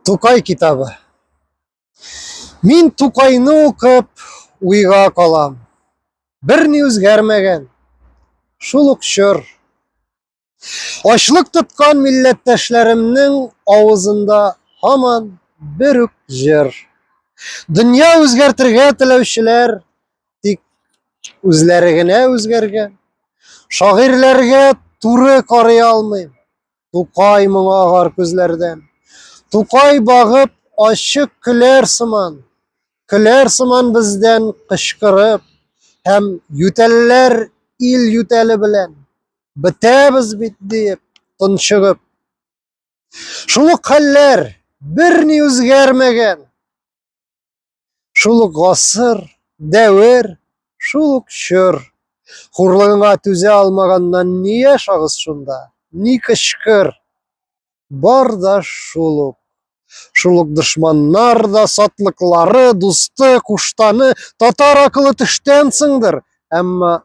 Тукай китабы. Мин Тукайны укып уйга калам. Бер ни үзгәрмәгән. Шул ук чор. Ачлык тоткан милләттәшләремнең авызында һаман бер үк җыр. Дөнья үзгәртергә теләүчеләр тик үзләре генә үзгәргән. Шагыйрьләргә туры карый алмыйм. Тукай моңа агар күзләрдән. Тукай багып ачык көләр сыман. Көләр сыман бездән кычкырып һәм ютәлләр ил ютәле белән бетәбез бит диеп тончыгып. Шул ук хәлләр берни үзгәрмәгән. Шул ук гасыр, дәвер, шул ук чор. Хурлыгыңа түзә алмаганнан ни яшагыз шунда, ни кычкыр. Бар да шул ук. Шул ук дошманнар да, сатлыклары, дусты, куштаны, татар акылы төштән сыңдыр. Әмма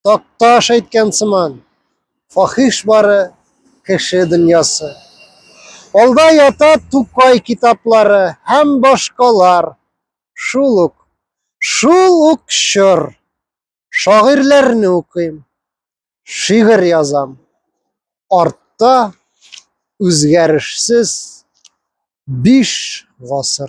Такташ әйткән сыман, фахиш бары кеше дөньясы. Алда ята Тукай китаплары һәм башкалар. Шул ук, шул ук чор. Шагыйрьләрне укыйм, шигырь язам. Артта үзгәрешсез биш гасыр.